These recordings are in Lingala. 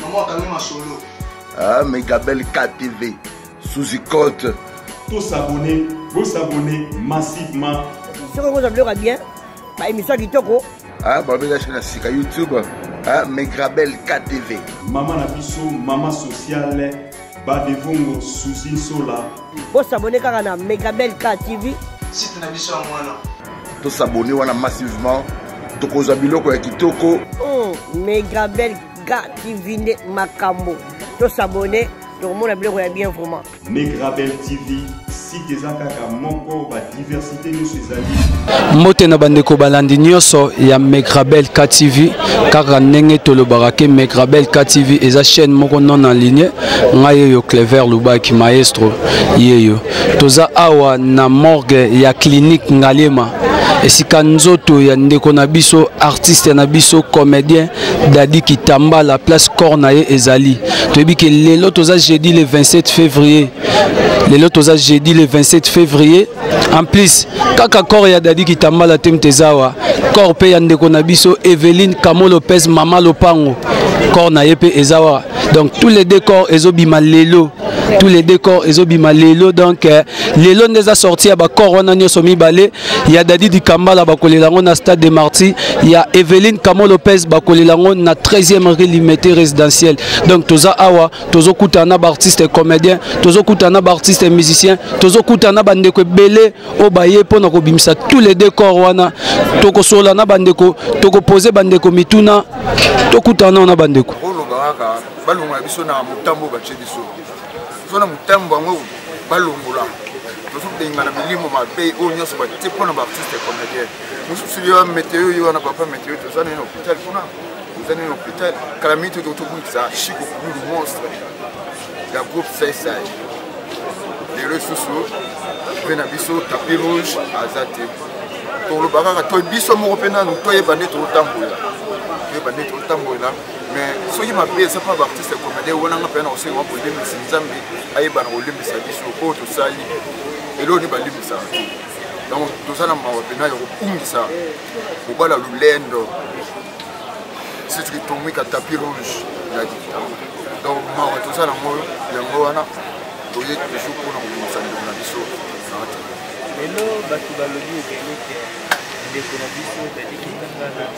Maman akangi masolo. Ah, Megabel KTV, Suzy Cote. Tous s'abonner, vous s'abonner massivement. Soki okozwa biloko ya bien, ba émission kitoko. Ah, babela chaîne ya sika YouTube. Ah, Megrabel KTV. Maman na biso, maman sociale, Badevongo Suzy Sola. Bo s'abonner kaka na Megrabel KTV. Site na biso yango wana. To s'abonner wana massivement. Tokozwa biloko ya kitoko. Oh, Megrabel ga kivinde makambo tosabone tokomona biloko ya bien vraiment megrabel tv site eza kaka moko badiversité nyonso ezali mbote na bandeko balandi nyonso ya megrabel ktv kaka ndenge tolobaka ke megrabel ktv eza chaîne moko non en ligne ngai yeyo clever lubaki maestro yeyo toza awa na morgue ya clinique ngaliema esika nzoto ya ndeko na biso artiste na biso comédien Daddy Kitamba la place corps na ye ezali toyebi ke lelo toza jeudi le 27 février lelo toza jeudi le 27 février en plus kaka corps ya Daddy Kitamba la temte ezawa corps pe ya ndeko na biso Evelyne Kamo Lopez mama lopango corps na ye pe ezawa donc tous les deux corps ezobima lelo tous les deux corps ezobima lelo donc euh, lelo nde eza sorti ya ba corps wana nyonso mibale ya Dadi Dikambala bakolela yango na stade de Marty ya Evelyne Kamo Lopez bakolela yango na 13e rue Limete résidentielle donc toza awa tozo kutana na ba artistes comédiens tozo kutana na ba artistes musiciens tozo kutana na bandeko ebele oyo baye mpo na kobimisa tous les deux corps wana tokosola na bandeko tokopose bandeko mituna tokutana na bandeko balongola biso na motambo batie biso so na motambo yango balongola tozobengana milimo mabe oyo nyonso batie mpo na baartiste comédien mosusu yo meteo yo wana papa meteo toza nini hôpital kuna toza nini hôpital kala mingi totoki tobungisa chico kululu monstre ya groupe saisai lelo lisusu mpe na biso tapi rouge aza te tolobaka kaka to biso moko mpe nanu toyeba nde totambola toyeba nde totambola mais soki mabe eza mpa baartiste ya comedie wana nga mpenza na kosenga mpo olembisi nzambe ayebana kolembisa biso oyo tosali eloko nde balembisaka te donc toza na mawa mpena ya kobungisa kobala lolendo sitiki tomika tapi rouge na dictaure donc mawa toza nango yango wana toye toujours mpo na kobongisa ndeko na biso lelo bato balobi ebele te ndeko na biso dadikitangana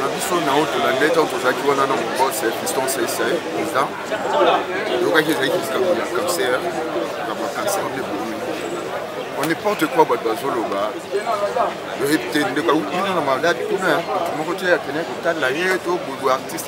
na biso na oyo tolandi ete oyo tozalaki wana na mobos fiston sese président tokaki ezalaki likambo ya cancer na bacancer nde bomi o n'importe quoi bato bazoloba oyebi te ndeko awuti na maladi kuna moto moko te akendaki kotala ye to bobo artiste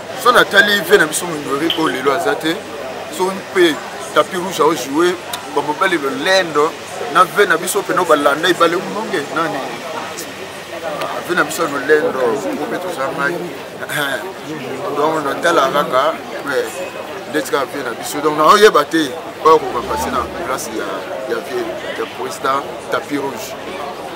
so natali vie na biso monyori oyo lelo aza te so mpe tapi rouge aojoue bamobali lolendo na vie na biso mpena balanda ebale mononge nani vie na biso lolendo ngo mpe toza ngai donc natala kaka ndeti kaka vie na biso donc naoyeba te oyo kokapase na place ya vie ya président tapi rouge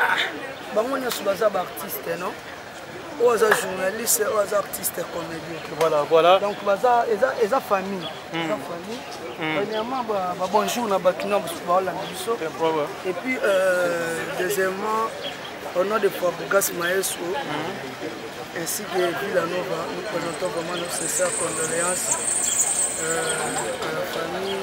ah, bango nyonso baza baartiste non oyo aza journaliste oyo aza artiste comédien voilà voilà donc baza eza eza famille hmm. eza famille hmm. premièrement ba bonjour na bato na mosusu baolanda biso et puis euh, deuxièmement au nom de Fabrigas Maestro hmm. ainsi que Villanova nous présentons vraiment nos sincères condoléances euh, à la famille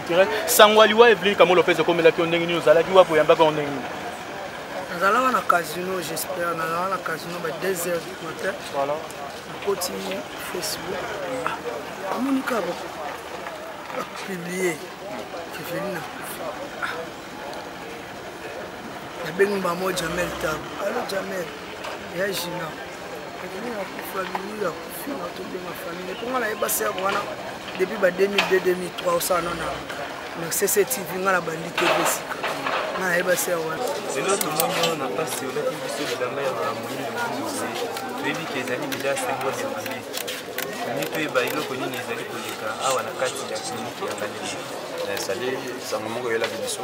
sango ya liwa evelin kamo lopez ekomelaki yo ndenge nini ozalaki wapi oyambaka yo ndenge nini nazalaka na casino j'espère nazalaka na casino ba 2 heures du matin nakoti facebook amonika bapublie evelin akufa nabengi mama jamel tabu alo jamel ya gina depuis ba 2002 2003 osala no na na cctv nga na bandi te esika nga nayeba se wana lelo tomoni oyo na pasi olaki biso bilamba ya moyindo mose toyebi ke ezali deja sembo de vie tolingi toyeba eloko nini ezali koleka awa na kati ya kliniki ya bandeli ezali sango moko eyelaki biso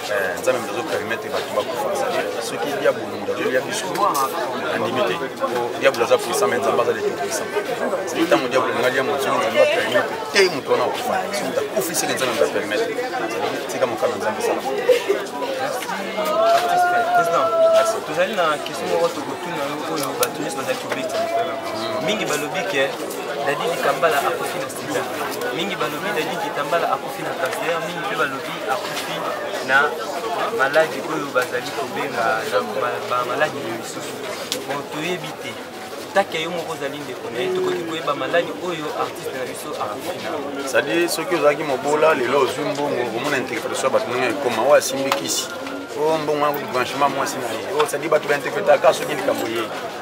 Eh, nzambe moto azopermetre bato bakufa azali soki diabolo moto azolia biso andimi te po diabolo aza puissant me nzambe aza lete puissant soki ntango diabolo alinga lia moto soki nzambe apermetre te moto wana akufa soki moto akufi seke nzambe moto apermetre tika mokano nzambe esala tozali na question moko tokotuna yo oyo bato nyonso bazali kobeta mingi balobi ke dadi likambala akufi na mingi balobi dadi kitambala akufi na cancer mingi mpe balobi akufi na maladi oyo bazali kobenga bamaladi na misusu bon toyebi te taki ya yo moko ozali ndeko na ye tokoki koyeba maladi oyo artiste na biso akufi na sadi soki ozalaki mobola lelo ozwi mbongo omona interpretation ya bato ndenge ekoma oyo asimbi kisi o oh, mbongo yango branchement mwasi na ye oyo oh, sadi bato bainterpretaka soki likambo ye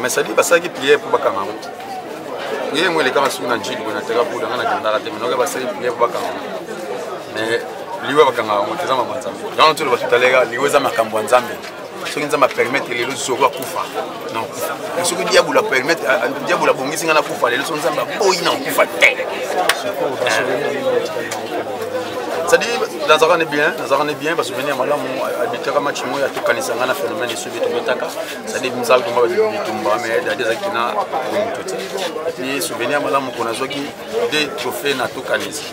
mais sadi basalaki priere mpo bakanga yango priere yango elekaka soki na njili boye na teka buda ngai nakendaka te minoke basalaki priere mpo bakanga yango mais liwa bakanga yango te eza mama nzambe yango toloba tutaleka liwa eza makambo ya nzambe soki nzambe apermete lelo zoko akufa nakufa soki diabolo apermete diabolo abongisi ngai nakufa lelo so nzambe aboyi na kokufa te cestadire nazalaka ne bien nazalaka ne bien basouvenir ya malamu abitaka match moko ya tokanisa ngai na phénomène esobi tobetaka cestadire misala toma bitumba mais dadi ezalaki na moto te epuis souvenir ya malamu mpo nazwaki de trophée na tokanisa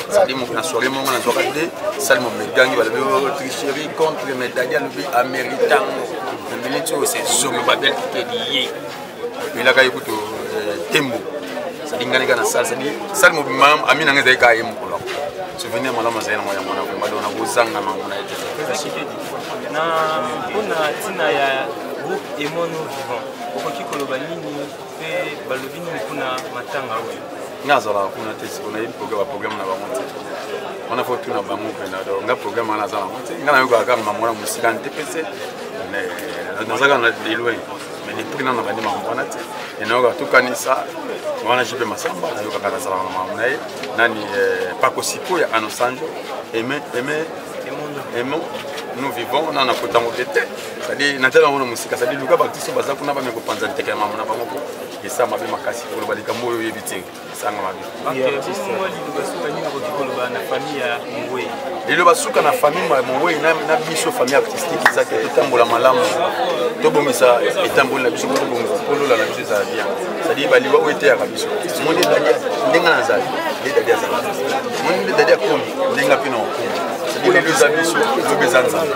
sadi na soirée moko nazwaka nde sali momegangi balobi oh, tricherie contre medali alobi ameritango na miniti oyo se zomi babel kitedi ye elaka ye kutu euh, tembo sadi ngani ka na sali sadi sali mobima ami nanga ezali kaa ye mokolo souvenir malamu azali nango yango na vrema dona kozanga nango na ye te na mpona ntina ya groupe emono vivant okoki koloba nini mpe balobi nini mpona matanga oyo nga azalaka kuna te siko nayebi baprogramme na bango te wana fo tuna bango mpena do nga programme wana aza nango te nga nayokaka kaka mambo wana mosika nte pese nazaka na deloin mais depuis nano bandi mambo wana te enayokaka tokanisa wana jipe masamba nayokaka nazalaka na mambo na ye nani eh, pakosiko ya anosanjo eme eme emo nous vivons nana kotango te te cestadire natala yango na mosika cestadire luka bakristo baza kuna bameka kopanza nteke ya mama na bango mpo esa mabe makasi koloba likambo oyo oyebi te esanga mabe lelo basuka na famille ya mowei na biso famille artistique eza te totambola malamu tobongisa etamboli na biso mpo tobongisa mpo lola na biso ezala bien cestadire baliwa oyo eteyaka biso moni dadi ndenge nazali nde dadi azala moni nde dadi akomi ndenge mpe na okomi cestadire lelo eza biso lobi eza nzambe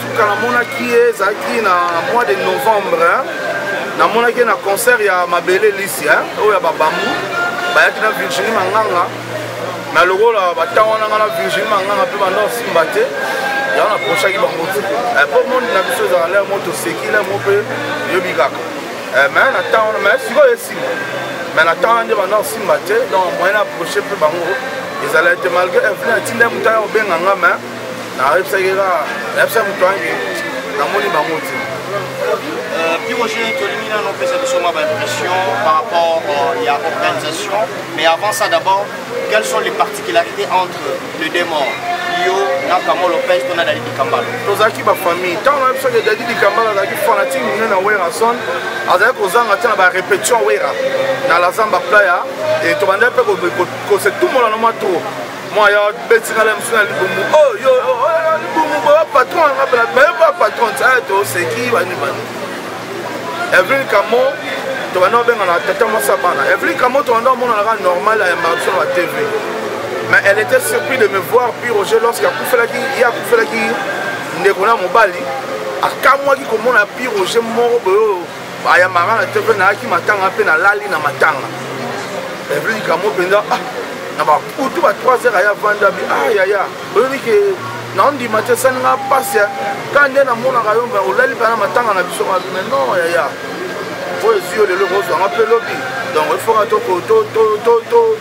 suka namonaki ye ezalaki na mois de novembre namonaki ye na concert ya mabele lisi oyo ya babambu bayaki na virginie manganga na lokola batango nanga na virginie manganga mpe banda osimba te yango naprochaki bango te eh, mpo monde na biso ezala lere mo toseki lere mo mpe eyobi kaka eh, me na ntango wana me sikoyo esimba me na ntango wana nde banda osimba te donc moyen na aproche mpe bango ezalaki te malgré inflin atinda ye moto aya kobenga nga me nayebisaki kaka nayebisa moto yange namoni bango te euh, piroge tolingi nano opesa biso mwa baimpression par rapport euh, ya organisation mais avant ça d'abord quelles sont les particularités entre le démon yo na kamo lopez to na dadi dikambala tozalaki bafamille ntango na biso ke dadi dikambala azalaki fanatike monene na werason azalaki kozanga ntina na barepetition wera na lazamba playa tobandaki mpe kose tumola na mwa trop mwa ya betinga na mosu na libumu oyo oh, oh, oh, libumu boya patron anga pela bayoka patron aya toseki bani bani evelin kamo tobanda obengana tata mwasi ya bana evelin kamo tobanda omonanaka normal ya marso na tv mais elle était surpris de me voir puis roger lorsque akufelaki ye akufelaki ndeko na mobali akamwaki komona pi roger moko boyo ayambaka na te mpe nayaki matanga mpe nalali na matanga evelin kamo mpenza ah, na bakutu ba 3 heures aya vanda bi ah yaya oyebi ke naondima te esali nga mpasi ka nde namonaka yo olali mpe na matanga na biso mabi mai non yaya oyo ezwi yo lelo ekozwa nga mpe lobi donc efoka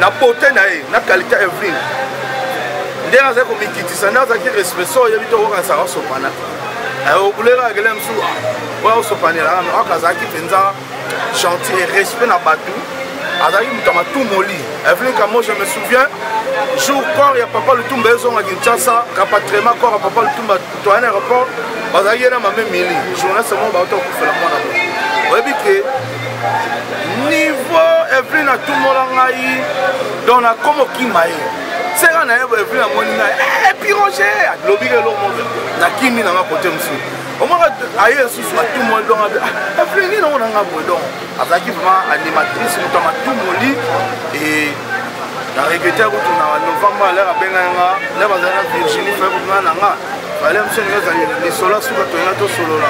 na beauté na ye na qualité ya evelyne ndenge azali komikitisa nde azalaki respect so oyebi te okokanisaka osopana okuleka akele mosusu oyo osopanelaka me aka azalaki mpenza gentil et respect na bato azalaki moto ya matumoli evelin kamo je me souviens jour corps ya papa lutumba ezonga kinshasa rapatriement corps ya papa lutumba toyana aéroport bazalaki ye na mame mili journaliste moko bauta kokufela mwana oyebi ke niveau evelyn atumbola ngai donc nakomokima ye seka na ye evelyn amoni ngai epiroge eh, alobi lelo moko nakimi nanga kote mosusu omaka aye lisusu atumoli donc ah, evelyn nini ongo nanga boye donc azalaki vraiment animatrice moto ya matumoli na regrete akotuna na novembre alere abengaki nga nde bazali na virginie februar na nga bale biso ndenge ezali lisolo ya suka toyina tosolola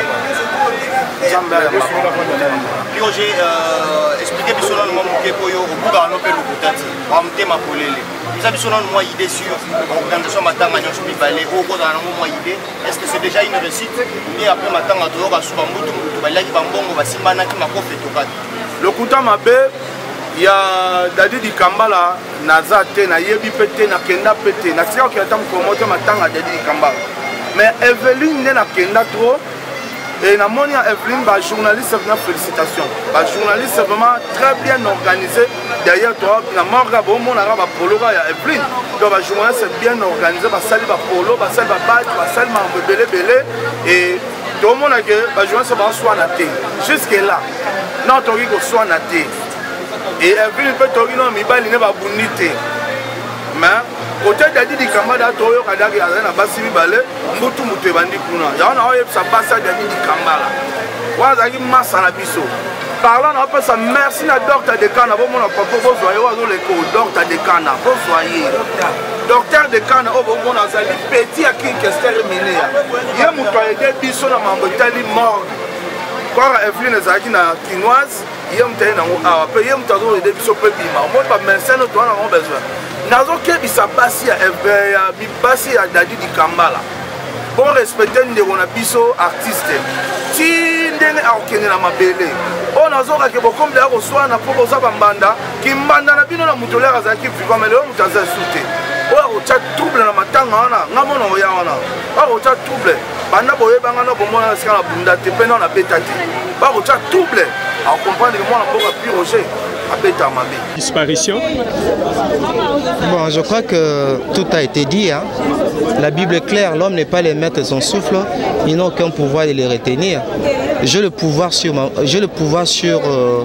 nzambe ayamaoje euh, explike biso nanu mwa moke oyo okokaka no mpe lokuta te wa motema polele eza biso nanu mwa idée sur organisation matanga nyonso mibale oyo okozala nango mwa idée est ce que c'est déjà une réussite nde après matanga toyoka suka mbutu mbutu baliaki bambongo basimbanaki makofi etokaki lokuta mabe ya dadi dikambala naza te nayebi mpe te nakenda mpe te natika kokenda ata mokolo moko te matanga dedi likambala mais eveline nde nakenda trop et namoni ya eveline bajournaliste vraimen félicitation bajournaliste vraiment très bien organisé derrière toi na morga bomonaka bapoloka ya eveline donc bajournaliste bien organisé basali bapolo basali babati basali makambo ebele ebele et tomona ke bajournaliste baswana te jusque là non tokoki koswana te evine mpe toyoki no mibali ne babundi te me kote dadi dikamba da toyoka daki azali na basi mibale mbutu moto ebandi kuna yango na oyebisa basi ya dadi dikambala wana azalaki masa na biso parla na opesa merci na docteur de kana bomona papa bozwa ye oyo azoleka o docteur de kana bozwa ye docteur de kana oyo bomona azali peti ya kinkester mineya ye moto ayede biso na mambo etali morgue kora eveline ezalaki na kinoise ye moto aye nango awa mpe ye moto azokende biso mpe bima omoni bamesene toa na bango besoin nazokebisa basi ya basi ya dadi dikambala bon respecte ndeko na biso artiste ti ndenge akokende na mabele oyo nazokake bokomi deya koswana mpo boza bambanda kimbanda na bino na moto oleka azalaki viva me lelo moto aza su te oyo akotya trouble na matanga wana nga mona oya wana akotya trouble banda boyebanga no komona esika na bunda te mpe no na beta te bakotya double akokomprendre ke mwana mboka pi roger abeta mabe disparition bon je crois que tout a été dit hein. la bible est claire l'homme n'est pas le maître de son souffle ils n'ont aucun pouvoir de les retenir j'ai le pouvoir sur ma, j'ai le pouvoir sur euh,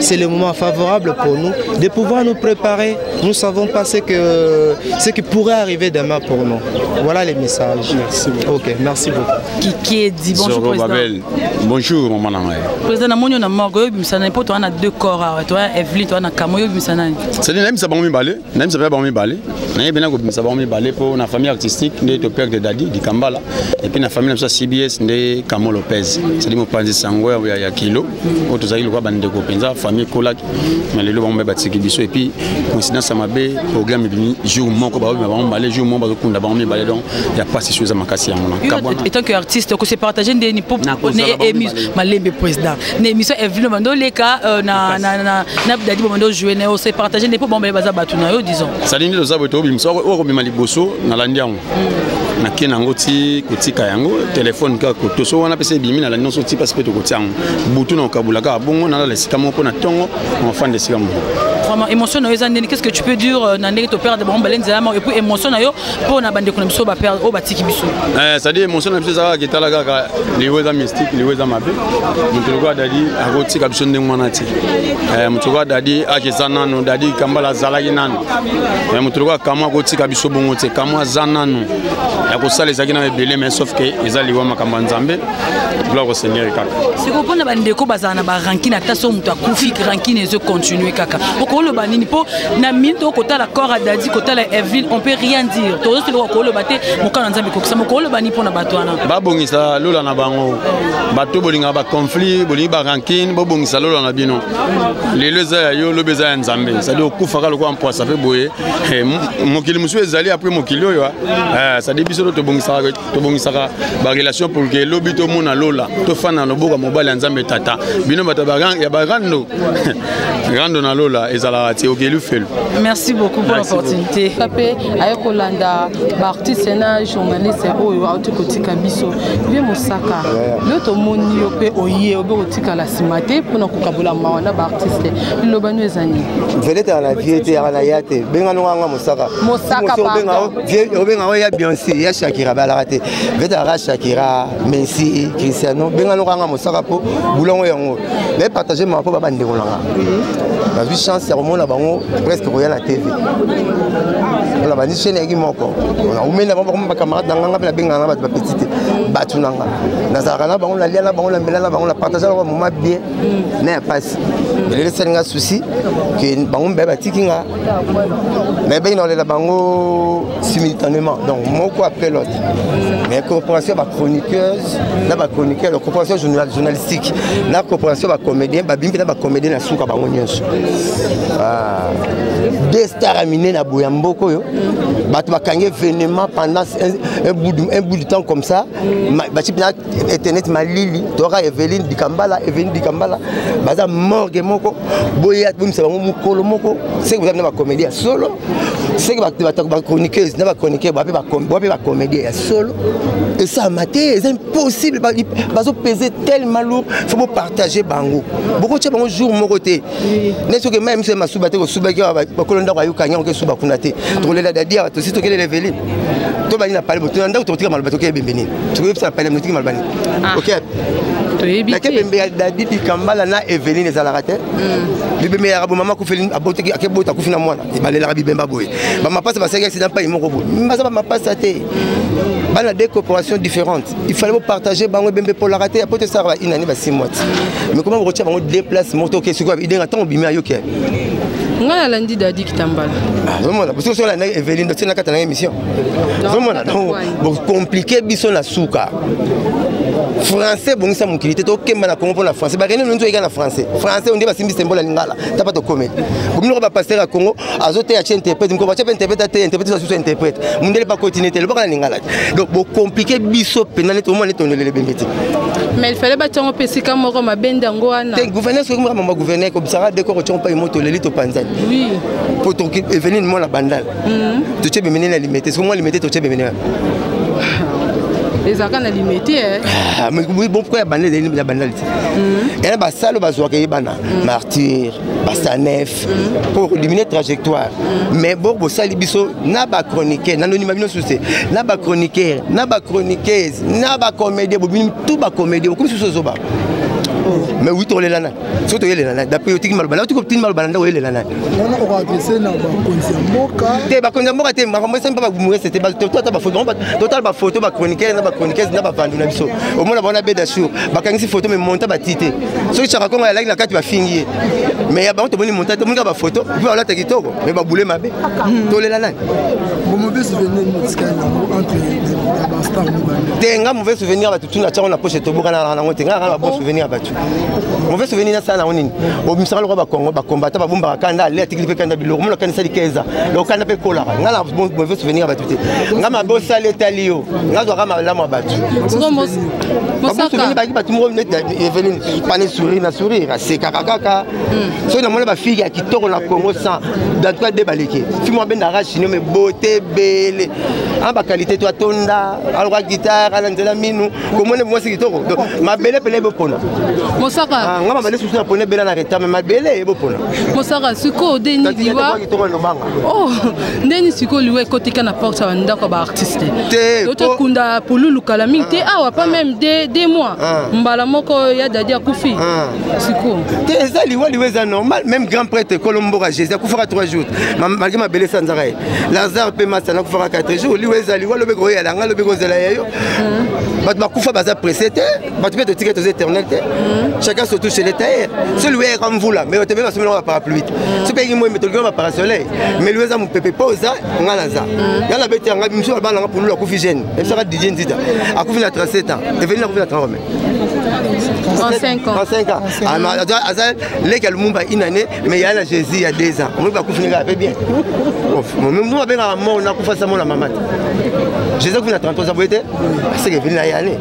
C'est le moment favorable pour nous de pouvoir nous préparer. Nous ne savons pas ce, que, ce qui pourrait arriver demain pour nous. Voilà les messages. Merci beaucoup. Ok, merci beaucoup. Kiki dit bonjour Zoro président. Babel. Bonjour mon maman. Président na moni na morgue yo bimisa na poto on a deux corps toi Evelyne toi na kamo yo bimisa na. C'est nini na bimisa bango mibale nayebisa mpe bango mibale nayebi na kobimisa bango mibale mpo na famille artistique nde to père de dadi dikambala epuis na famille na biso ya cbs nde camo lopez ezali mopanzi sango ya, ya kilo oyo tozalaki lokola bandeko mpenza famille ekolaki na lelo bango mpe batiki biso epuis coïncidence ya mabe programme ebimi jour moko babima bango mibale jour moko bazokunda bango mibale donc ya pasi so eza makasi yango na etant que artiste okosepartage ndeni mpo malembe président na émission Evelyne Bando leka euh, na na na na Dadi Bando jouer na yo se partager ne po bombe baza batu na yo disons ça dit oza boto bimso o ko bima liboso na landi yango hmm. na ken yango ti kotika yango téléphone ka ko toso wana pese bimi na landi nso ti parce que to kotia yango butu na kabula ka bongo na la sika moko na tongo en fin de sika moko vraiment émotion na yo eza ndeni qu'est-ce que tu peux dire euh, na ndenge to perdre bombe lenza et puis émotion na yo mpo na bandeko na biso bapere oyo batiki biso eh, cestadi émotion na biso eza kaka ketala kaka liwa eza mystique liwa eza mabe moto lokola dadi akotika biso ndenge wana te eh, moto lokola dadi akeza nano dadi kambala azalaki nano eh, moto lokola kamo akotika biso bongo te kamo aza nano ya kosala ezalaki na ebele mais sauf ke eza liwa makambo ya nzambe gloire au seigneur kaka sikoyo mpona bandeko bazala na barankine ata so moto akufi rankine ezo continue kaka okoloba nini mpo na minute okotala corps adadi kotala evelyn on peut rien dire tozosoloka koloba te mokano ya nzambe ekokisa mokoloba ni mpo na bato wana babongisa lola na bango bato bolingaka baconflit bolingi barankine bobongisa lola na bino lelo eza ya yo lobi eza ya nzambe cestadi okufaka lokola mpwasa mpe boye eh, mokili mosusu ezali apres mokili oyo cestadi eh, biso to tobongisaka tobongisaka barelation pour ke lobi tomona lola tofanda na loboko ya mobali ya nzambe tata bino bato ya barando rando na lola ezalaka te okeli felu merci beaucoup pour l'opportunité mpe aye kolanda baartiste na journaliste oyo auti kotika biso vie mosaka yo tomoni yo mpe oye obe kotikala nsima te mpona kokabola mawa na baartiste liloba no eza nini vedete ya na vie te ya na ya te benga nonga nga mosaka mosaka vie obenga oya beyonce ya shakira balaka te vetalaka shakira messi cristiano benga noko anga mosaka mpo bulongo yango me partage mama mpo babandeko nanga nazwi chance ya komona bango presque koya na tv mpona bandi chaine yaki moko naumeli na bango bakoma bacamarade na nganga mpe nabengana na bato bapeti te bato na nga nazalaka na bango nalia na bango na mbela na bango na partage na bango moma bien na ya mpasi elelesani nga souci ke bango mibale batiki nga mais benge naolela bango simultanément donc moko après l'autre mais coopération ya bachroniqueuse na bachroniqueur ya coopération journalistique na coopération ya bacomédien babimi mpe na bacomédien na suka bango nyonso ah. deux star amine na boya mboka oyo bato bakangi événement pendant un bout du temps comme ça internet malili toyaka eveline dikambala eveline dikambala baza morgue moko boya bomisa bango mokolo moko seke boza na bacomédie ya solo seke bachroniqueuse na bachroniqueur bape bacomédie ya solo esalama te eza impossible bazopese tellement lourd fo bopartage bango bokotya bango jour moko te nde soki meme soki masuba te kosubaki bakolo ndako ayokani yango kesuba kuna te tokolela dadi awa tosi tokelela eveline to bani na pale bo to ndako to tika maloba to ke bembe ni to yebisa pale mo tika maloba ni ah. okay to yebi te bembe ya David Kambala na Eveline ezalaka te hmm. bibembe ya rabo mama kufeli abotaki ake bota kufina mwana ibalela bibemba boye ba mapasa ba saki accident pa imoko boye mbaza ba mapasa te hmm. bana des corporations différentes il fallait vous partager bango bembe pour la rater apote sara ba inani ba 6 mois mais comment vous retirez bango déplace moto ke sikoyo idenga tango bimi ayoke ngai nalandi dadi kitambala azomona ah, bosi oso olandaki eveline otie na kati na émission azomona donc bocomplike biso na suka français ebongisa mokili te tokemba na congo mpona français bakende nonso oyika na français français onde basimbi sembo na lingala ta mpa tokomeli bominoko bapaster ya congo azoteya ce interprète moko batya mpe interprète ateya interprète asusu interprète mondele mpa kotine te lobaka na lingala donc bocomplike biso mpenza neti omona neti ondolele bembe te mais il fallait batyango mpe esika moko mabende yango wana te gouverneur soki moko mama gouverneur kobisaka deko kotyango mpa emo toleli topanzani oui mpo toki eveline mwana bandal mhm. totye bemene na limete soki mwa limete totye bemene wana ezalaka na limete eh. ah, mpo ya bandal ezali na bandal te yana basalo bazwaka ye bana martyr basanef pour éliminer trajectoire mais bo bosali biso na ba chroniqueur na nonima bino suse na ba chroniqueur na ba chroniqueuse na ba comédien bobini tout ba comédien bokomi susu ozoba mais oui tokolela nani soki toyelela nani daprès otiki maloba nayo tokotini maloba na ndako oyelela nani wana okoadrese na bakonzi ya mboka te bakonzi ya mboka te makambo esami mpe bamuese te totala bafoto totala bafoto bachroniquere na bachroniquese na bavandi na biso omona bango na beda sur bakangisi foto me monta bati te soki chaka kongo yalaki na kati bafingi ye mais ya bango tomoni montage tomoni kaka bafoto mpe balata kitoko mais babule mabe hmm. tolela nani te nga mauvais souvenir ya bato tuna tiango na poche tobokanaka nango te nga kaka na babon souvenir ya bato mauvais souvenir nasala nango nini obimisaka lokola bakongo bakombata babombaka kanda ale atikili mpe kanda biloko mona kanisa likeza loko kanda mpe ekolaka nga na mauvais souvenir ya bato te nga mabe osali etali yo nga zwaka malamu ya bato baki bato moko neti Eveline pane sourire na sourire asekaka kaka hmm. soki namoni bafille ya kitoko na congo sans dans tout cas de baleke fille mwa bendaka chino me beauté ebele ana baqualité to atonda aloka guitare ana nzela minu komoni mwasi kitoko mabele pele ebopona mosaka ah, nga mabele susu naponi ebela na retard me mabele ebopona mosaka sikoyo deni liwa Oh, nde nini sikoyo liwa ekotika na porte ya bandako ya baartiste totokunda pululu kala mingi te awa pa meme de mois ah. mbala moko ya dadi akufi ah. sikoyo te eza liwa liwa eza normal meme grand prêtre ekolo mboka jésus akufaka 3 jours malgré mabele esanzaka ye lazare mpe masana akufaka 4 jours liwa eza liwa lobi koyala nga lobi kozela ya yo hmm. bato bakufa baza presse te bato mpe totika toza éternel te mm. chacun se touche le tailleur mm. so liwa eyaka mvula mais otembe basombela nga parapluie te mm. soki eyaki moi metoliki nga baparasoleil mais liwa eza mopepe mpo oza nga naza ya na beti yanga misu bana nga pululu akufi jeune ebisaka didie nzita akufi na 37 ans evelina akufi na 30 ans 35 ans 35 ans ah, aza leki ya lumumba une année mais yaya na jésus ya 2 ans omoni bakufi nga ape bien munu abengaka mort nakufa sa mona mama te jésus akufi na 33 ans boye te aseke evelina yane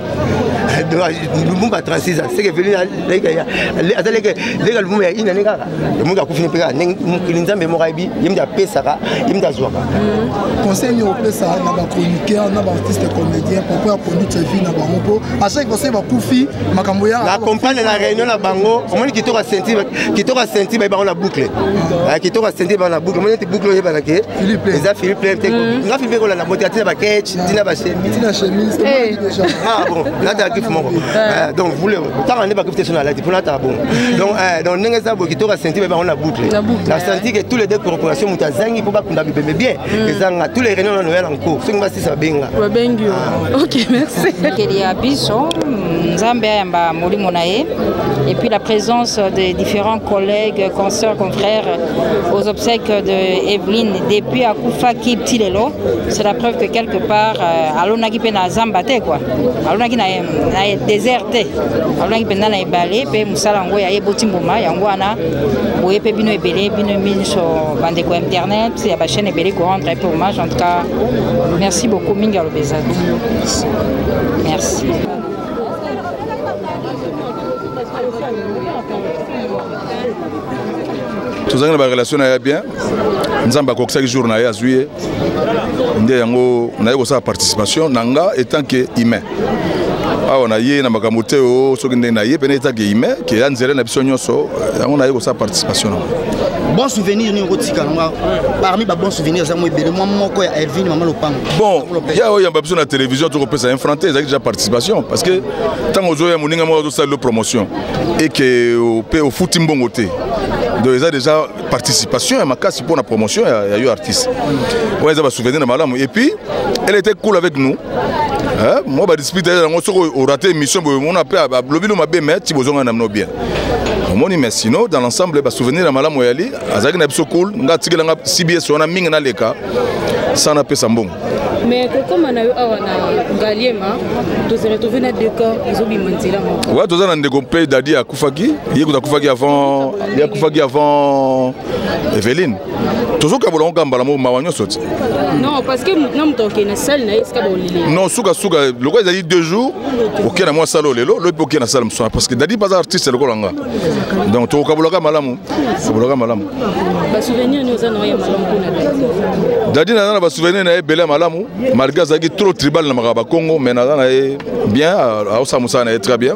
lumumba 36 ans seke veli aza leke leka lumumba ya ine ane kaka lomoki akufini mpe kaka mokili nzambe moko ayebi ye mde apesaka ye mde azwaka hmm. conseil nini opesa na bachroniqueur na baartiste comédien poko ya conduite ya vie na bango mpo achaki conseil bakufi makambo ya na compagne na réunion na bango omoni kitoko ya senti kitoko ya senti baye bango na boucle hmm. ah, kitoko ya senti bango na boucle omoni ete boucle oyebaka ke eza philippe lente hmm. nga philippe ekolanda bote atina bakech tina basetina chemise eh. ah bon natala kifu moko eh. Eh, donc vule tanga nde bakifu te so nalati mpo natala bongo donc donc ndenge eza boye kitoka senti baye bango na boucle na senti ke tous les deux corporation moto azangi mpo bakunda bibembe bien hmm. ezanga tous les réunion nanoya na nko soki basisa babenga babengi ah. ok merci keli ya biso nzambe ayamba molimo na ye et puis la présence des différents collègues consoeurs confrères aux obsèques de Evelyne depuis akufaki ti lelo c'est la preuve que quelque part euh, alonaki mpe na zamba te kua alonaki na, na désert te alonaki mpenza na ebale mpe mosala yango ya eboti mbuma yango wana boye mpe bino ebele bino minso bandeko ya internet ya bachaîne ebele korendre mpe hommage en tout cas merci beaucoup mingi aloba eza merci tozalaki na barelation na ya bien nzambe akokisaki jour na ye azwi ye nde yango naye kosala participation na nga etant que humain awa na ye na makambo te o soki ndenge na ye mpena etant que humain ke ya nzela na biso nyonso yango naye kosala participation nango bon souvenir nini okotika nanga parmi ba bon souvenir eza mwa ebele mwa moko ya elvine mama lopango bon ya oyo yamba biso na télévision tokopesa ye franc te ezalaki déjà participation parce que ntango ozoya moninga moko azosala lo promotion eke mpe ofuti mbongo te donc eza déjà participation ya makasi pour la promotion ya, ya yo artiste wana eza basouvenir na malamu et puis elle était cool avec nous hein? moi badiscipute yango soki orate émission boye mona mpe alobi no mabe mais ti bozonga na mino bien omoni mais sinon dans l'ensemble basouvenir ya malamu yali azalaki na biso cool nga atikela nga cbs wana mingi naleka sans napesa mbongo mais kokoma na yo awa na ngaliema tozala tove na decor ezobima nzela moko ouais toza na ndeko mpe dadi ya akufaki ye kutu akufaki avant ye akufaki avant eveline tozokabola yango kaka mbala moko mawa nyonso ti non sukasuka lokola ezali deux jours okei na mwa sala oyo lelo lobi mpe okei na sala mosana parce que dadi mpe aza artiste lokola nga donc tokokabolaka malamu kabolaka malamu dadi naza na basouvenir na ye ebele ya malamu malgré azalaki trop tribal na makambo ya bakongo mais naza na ye bien aosala mosala na ye très bien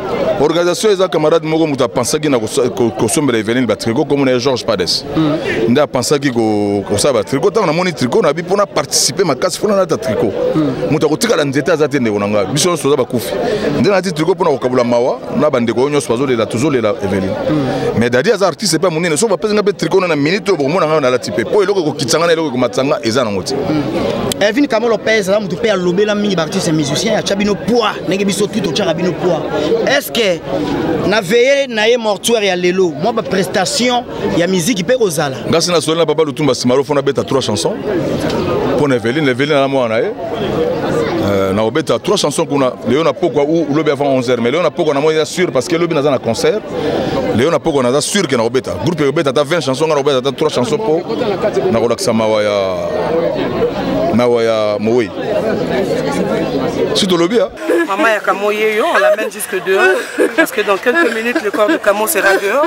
organisation eza camarade moko moto apensaki na kosombela eveline batrico komo na ye georges pades mm. nde apensaki kosala batrico ntango namoni trico na bi mpo na participe makasi mpo na nata trico mm. moto akotikala nzete aza te ndeko na ngai biso nyonso toza bakufi nde nati trico mpo na kokabola mawa na bandeko oyo nyonso bazolela tozolela eveline mm. mais dadi aza artiste mpe monene soki bapesi ngai mpe trico na na minute oyo bokomona ngai nalati mpe mpo eloko ekokitisa nga na eloko ekomatisa nga eza nango te hmm. evin kamo lopez aza moto mpe alobela mingi baartiste musicien atya bino poids ndenge biso tu totyaka bino poids est ce que na veye na ye mortuaire ya lelo mwa baprestation ya miziki mpe kozala ngasi nasoleli na papa lutumba simaro mpo nabeta trois chansons mpo na eveline eveline na mwana na ye Euh, na obeta trois chansons kuna leo na pokwa ou lobi avant 11h mais leo na pokwa na moi ya sûr parce que lobi naza na concert leo na poko naza sur ke nakobeta groupe ekobeta ata 20 chanson nga nakobeta ata 3 chanson mpo nakolakisa mawa ya mawa ya mowei si tolobi ya Maman ya Kamo Yeyo, on l'amène jusque dehors. Parce que dans quelques minutes, le corps de Kamo sera dehors.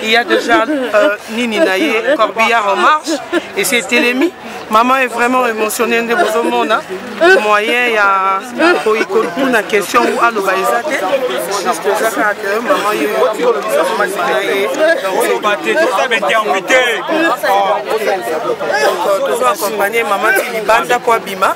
Il y a déjà euh, Nini Naye, Corbillard en marche. Et c'est Télémie. maman est vraiment émotionné nde bozomona moyen ya koikokuna question ou aloba eza te juste eza kaka ke maman ye akolobisa mamasi na ye oloba te toza bainterprete donc tozo accompagne maman ti libanda mpo abima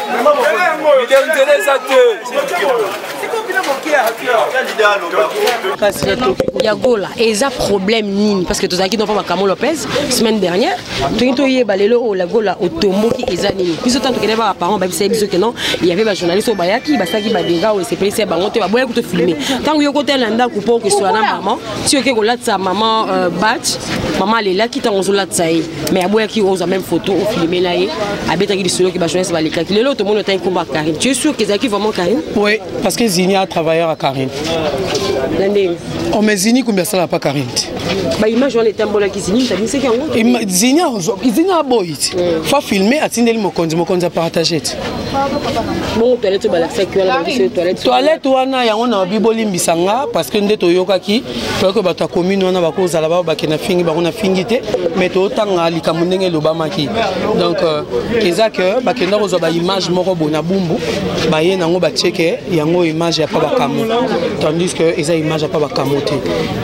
nzela eza te ya gola eza problème nini parce que tozalaki noko makamo lopez semaine dernière toki toyeba lelo oyo oh, la gola otomboki eza nini biso ntango tokende baka parent babisaki biso ke non yave bajournaliste oyo bayaki basalaki badega oyo esepelisi ya bango te baboya kuto filme ntango yo kotala na ndako mpo okesola na mama ti oke kolatisa mama euh, bat mama alelaki ntango ozolatisa ye mais aboyaki ozwa même photo ofilimela ye abetaki lisolo ke bajournaliste balekaki lelo tomoni otaki nkombo ya karine tu es sûr que ezalaki vraiment karine oui parce que zini a travailleur ya karine na ndenge o oh, mais zini kumbi asalaka pa karine te baimage wana etambolaki zini tabinisaki yango zini azwa zini aboyi ti hmm. fa filme atindeli mokonzi mokonzi apartage ti bongo toilette obalakisaki wana toilette wana yango na babibolimbisa nga parce que nde toyokaki toyaki oyo bato ya commune wana bakozala bao bakenda fingi bango na fingi te mais totanga likambo ndenge elobamaki donc euh, eza ke bakenda kozwa baimage moko boye na bumbu baye nango batieke yango image ya pa bakamo tandis que eza image ya pa bakamo te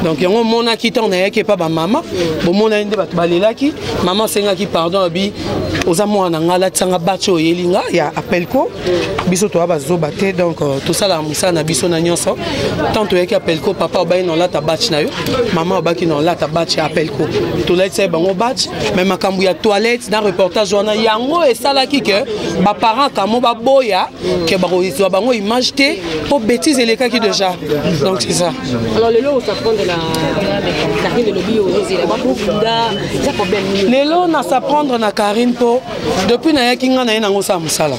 donc yango omonaki ntango nayaki epa bamama bomonaki nde bato balelaki mama asengaki pardon abi oza mwana na ngai alatisanga bace oyeli nga ya appelco biso toya bazoba te donc euh, tosalaka mosala na biso na nyonso tant toyaki apelco papa obaki na olata batch na yo mama obaki na olata batch ya apelco tolatisa ye bango batch mai makambo ya toilette na reportage wana yango esalaki ke baparent kamo baboya ke bakozwa bango image te mpo bétise elekaki déjà donc c'est ça lelo na s'apprendre na karine mpo depuis nayaki ngai naye nango osala mosala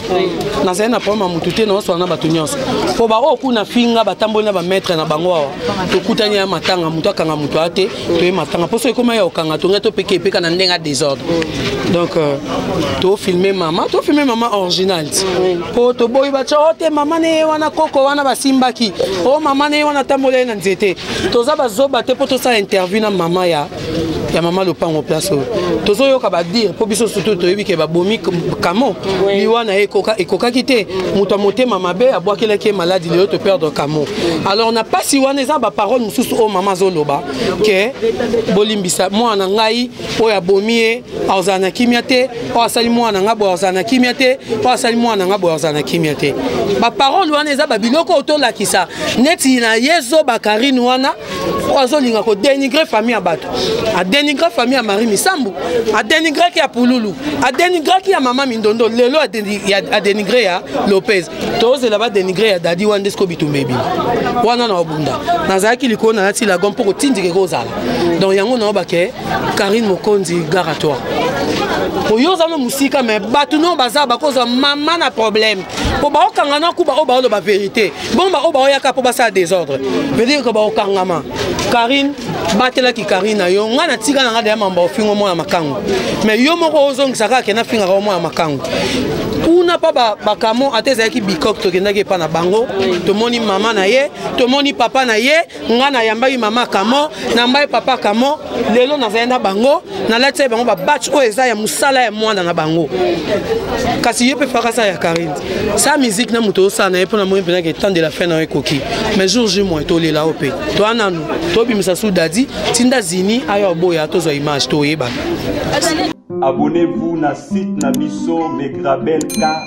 nazali na problème ya motu te naosola na bato nyonso mpo baoyo kuna finga batamboli na bamaître na bango awa tokutani ya matanga motu akanga motu aa te toye matanga mpo soki ekoma ya kokanga tongai topeka epeka na ndenge ya désordre donc euh, tofilme mama tofilme mama original mpo toboyi batya o oh, te mama na ye wana koko wana basimbaki o oh, mama na ye wana atamboli ye na nzete toza bazoba te mpo tosala interview na mama ya ya mama lopango place oyo tozoyoka badire mpo biso surtout toyebi ke babomi kamo liwa na ye ekokaki te moto ya motema mabe abwakelaki ye maladi lelo toperdre kamo alors na mpasi wana eza baparole mosusu oyo mama azoloba ke bolimbisa mwana ngai oyo abomi ye azala na kimia te oyo asali mwana ngai boye azala na kimia te oyo asali mwana ngai boye azala na kimia te baparole wana eza babiloko oyo tolakisa neti na ye zoba karine wana oyo azolinga kodenigre famille ya bato adenigre famille ya marie misambu adenigraki ya pululu adenigraki ya mama mindondo lelo adenigre ya lopez tozela badenigre ya dadi wana nde siko bitumba ebimi wana na obunda nazalaki likolo nalati lago mpo kotindika ekozala donc yango naobake karine mokonzi gara toi oyo oza no mosika me bato no baza bakozwa mama na problème mpo baokanga na kuba oyo baoloba verité bongo baoyo baoyaka mpo basala desordre veut dire que baokangama karine batelaki karine na yo ngai natika na ngai deya mambo ofingo mwana makango mais yo moko ozongisa kaka kenda fingaka yo mwana makango kuna mpa bakamo ata ezalaki bikok tokendaki epa na bango tomoni mama na ye tomoni papa na ye nga nayambaki mama kamo nambai papa kamo lelo nazali na bango nalatisa bango babatch oyo eza ya mosala ya mwana na bango kasi ye mpe fakasa ya karine sa miziki na moto osala na ye mpo na moi mpenza ke temps de la fin na yo ekoki mais jour ju moi tolela yo mpe toa nanu tobimisa su dadi tinda zini aya oboya tozwa image toyebana abonnez-vous na site na biso megrabelka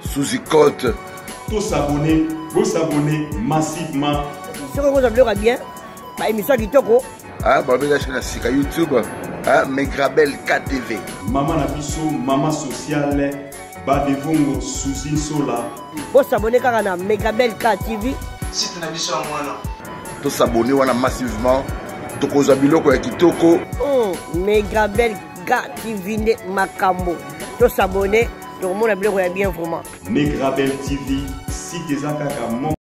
Suzy Cote. To s'abonner, bo s'abonner massivement. Soki okozwa biloko ya bien, ba émission ya kitoko. Ah, babela soki na sika YouTube. Ah, Megrabel KTV. Mama na biso, mama sociale, Badevongo Suzy Nsola. Bo s'abonner kaka na Megrabel KTV. Site na biso yango wana. To s'abonner wana massivement. Tokozwa biloko ya kitoko. Oh, Megrabel KTV nde makambo. To s'abonner tokomona biloko ya bien vraiment. Negra Belle TV, site eza kaka moko.